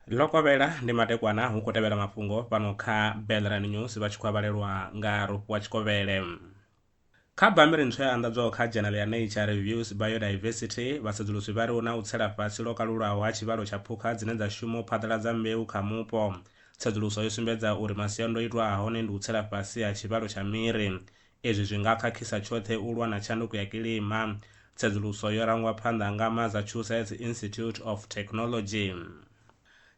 lokovhela ndi matekwana hu khou tevhela mafhungo fhano kha belran news vha tshi khou avhalelwa nga rofhiwa tshikovhele kha bammbiri ntswa ya anḓadzwaho kha dzhenelo ya nature reviews biodiversity vhasedzulusi vha ri hu na u tsela fhasi lwo kalulaho ha tshivhalo tsha phukha dzine dza shuma u phaḓaladza mbeu kha mupo tsedzuluso yo sumbedza uri masiandoitwa a hone ndi u tsela fhasi ha tshivhalo tsha miri Izwi zwi nga khakhisa tshoṱhe u lwa na tshanduko ya kilima. Tsedzuluso yo rangwa phanḓa nga Massachusetts Institute of Technology.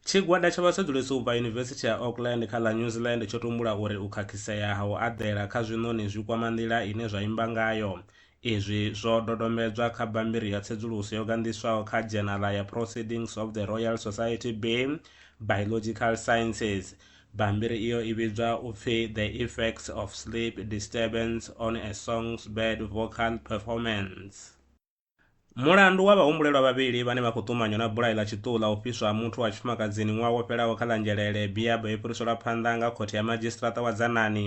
Tshigwada tsha vhasedzulusi u bva Yunivesithi ya Auckland kha ḽa New Zealand tsho tumbula uri u khakhisea ha u aḓela kha zwiṋoni zwi kwama nḓila ine zwa imba ngayo. Izwi zwo dodombedzwa kha bammbiri ya tsedzuluso yo ganḓiswaho kha dzhenaḽa ya Proceedings of the Royal Society Bay, Biological Sciences. Bammbiri iyo i vhidzwa u pfi The Effects of Sleep Disturbance on a Song's Bird Vocal Performance. Mulandu wa vhahumbulelwa vhavhili vhane vha khou ṱumanywa na bulayo ḽa tshiṱuhu ḽa u fhiswa ha muthu wa tshifumakadzini ṅwaha wo fhelaho kha ḽa Nzhelele, Biab, yo fhiriselwa phanḓa nga Khothe ya Madzhisiṱiraṱa wa Dzanani.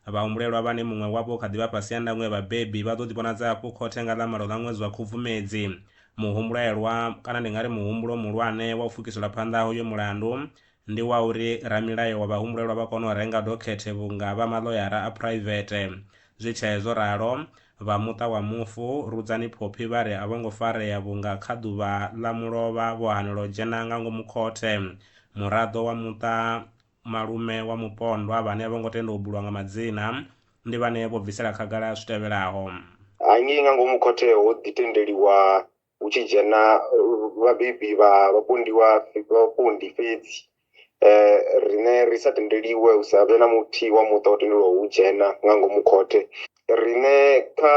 Vhahumbulelwa vhane muṅwe wavho u kha ḓi vha fhasi ha ndango ya vhabebi vha ḓo ḓivhonadza hafhu khothe nga ḽa malo ḽa ṅwedzi wa Khubvumedzi. Muhumbulelwa, kana ndi nga ri muhumbulo muhulwane wa u pfukisela phanḓa ha uyo mulandu, ndi wa uri ramilayo wa vhahumbulelwa vha kone u renga dokhethe vhunga vha maḽoyara a phuraivethe zwi tshee zwo ralo, vha muṱa wa mufu Rudzani Phophi vha ri a vho ngo farea vhunga kha ḓuvha ḽa mulovha vho hanelwa u dzhena nga ngomu khothe. Muraḓo wa muṱa, malume wa mupondwa vhane a vho ngo tenda u bulwa nga madzina, ndi vhane vho bvisela khagala zwi tevhelaho. Hangei nga ngomu khothe ho ḓi tendeliwa hu tshi dzhena vhabebi vha vhapondiwa vhapondi fhedzi um riṋe ri sa tendeliwe hu sa vhe na muthihi wa muṱa o tendelwaho u dzhena nga ngomu khothe. Riṋe kha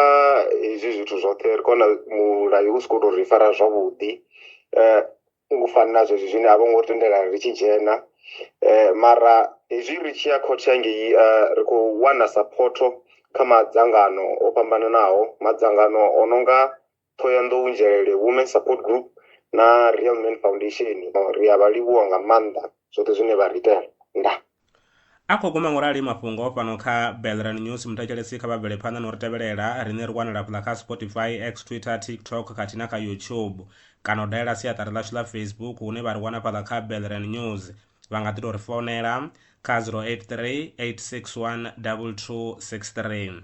hezwi zwithu zwoṱhe ri khou vhona mulayo u si khou tou ri fara zwavhuḓi um u fana na zwezwi zwine a vho ngo ri tendela ri tshi dzhena um mara hezwi ri tshi ya khothe hangei um ri khou wana saphotho kha madzangano o fhambananaho madzangano o no nga Thohoyanḓou Njelele Women Support Group na Real Man Foundation. Ri a vha livhuwa nga maanḓa zwoṱhe zwine vha ri itela. Ndaa. A khou guma ngorali mafhungo fhano kha Belran News. Muthetshelesi kha vha bvele phanḓa no ri tevhelela. Riṋe ri wanala hafhaḽa kha Spotify, X, Twitter, TikTok khathihi na kha YouTube. Kana u dalela siaṱari ḽashu ḽa Facebook hune vha ri wana hafhaḽa kha Belran News. Vha nga ḓi tou ri founela kha 083 861 2263.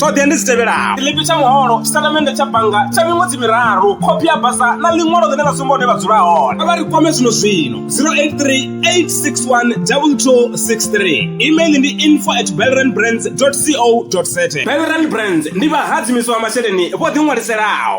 ṱhoḓea ndi dzi tevhelaho tshiḽipi tsha muholo tshitatamennde tsha bannga tsha miṅwedzi miraru khophi ya basa na ḽiṅwalo ḽine ḽa sumba hune vha dzula hone a vha ri kwame zwino zwino 0838612263 email ndi info at belrandbrands co za belrand brands ndi vhahadzimiswa masheleni vho ḓiṅwaliselaho